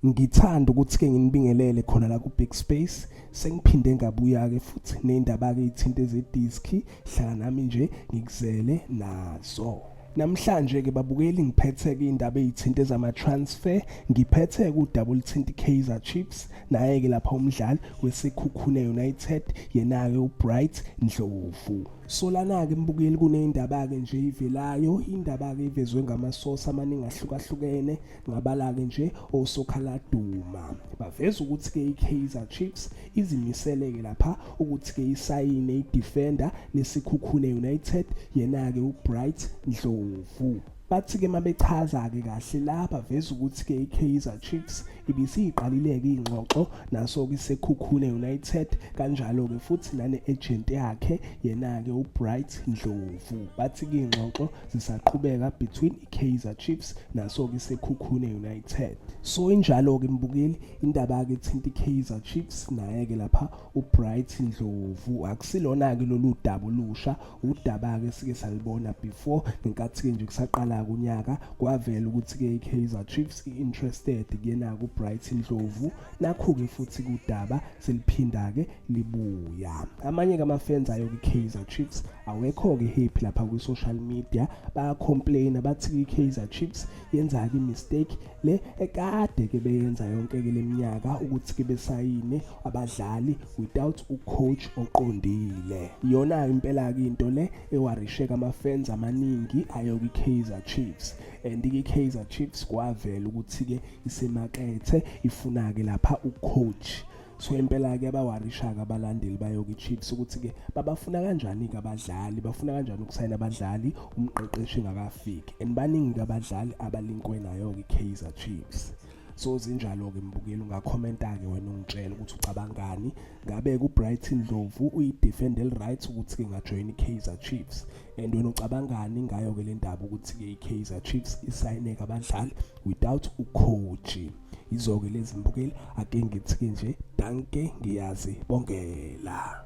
Ngithanda ukuthi-ke nginibingelele khona la ku-Big Space. Sengiphinde ngabuya-ke futhi ney'ndaba-ke iy'thinte zediski. Hlala nami nje ngikuzele nazo. Namhlanje-ke babukeli ngiphethe-ke iy'ndaba ey'thinte zama-transfer. Ngiphethe-ke udaba oluthinta i-Kaizer Chiefs, naye-ke lapha umdlali weSekhukhune United, yena-ke uBright Ndlovu. Solana-ke mbukeli kuney'ndaba-ke nje ey'velayo, indaba-ke evezwe ngamasosi amaningi ahlukahlukene. Ngabala-ke nje osokhaladuma baveza ukuthi-ke i-Kaizer Chiefs izimiseleke lapha ukuthi-ke isayine i-defender leSikhukhune United yena-ke uBright Ndlovu bathi-ke uma bechaza-ke kahle la baveza ukuthi-ke i-Kaizer Chiefs ibisiyiqalile-ke iy'ngxoxo naso-ke iSekhukhune United kanjalo-ke futhi nane-agent yakhe yena-ke uBright Ndlovu bathi-ke iy'ngxoxo zisaqhubeka between iKaizer Chiefs naso-ke iSekhukhune United so injalo-ke mbukeli indaba-ke ethinta iKaizer Chiefs naye-ke lapha uBright Ndlovu akusilona-ke lolu daba olusha udaba-ke sike salibona before ngenkathi-ke nje kusaqala kunyaka kwavela ukuthi-ke iKaizer Chiefs i-interested kuyena-ke uBright Ndlovu nakhu-ke futhi kudaba seliphinda-ke libuya amanye kamafans ayo kwi-kaizer chiefs awekho-ke happy lapha kwi-social media bayacomplaina bathi i-kaizer chiefs yenza-ke imistake le ekade-ke beyenza yonke-ke le minyaka ukuthi-ke besayine abadlali without ucoach oqondile yona impela-ke into le ewarisheka amafans amaningi ayo kwi-kaizer chiefs and i-kaizer chiefs kwavela ukuthi-ke isemakethe ifuna-ke lapha ucoach so impela-ke abawarishaka abalandeli bayoke ichiefs ukuthi-ke babafuna kanjani-ke abadlali bafuna kanjani ukusayina abadlali umqeqeshi ngakafiki and baningi-ke abadlali abalinkwe nayo-ke i-kaizer chiefs so zinjalo-ke mbukeli ungakhomenta-ke wena ungitshela ukuthi ucabangani ngabe ku-brighton dlovu uyidefende eli-right ukuthi-ke ngajoyina i-kaizer chiefs and wena ucabangani ngayo-ke le ndaba ukuthi-ke i-kaizer chiefs isayineke abadlali without ucoachi yizo-ke lezi mbukeli ake ngithi-ke nje danke ngiyazi bongela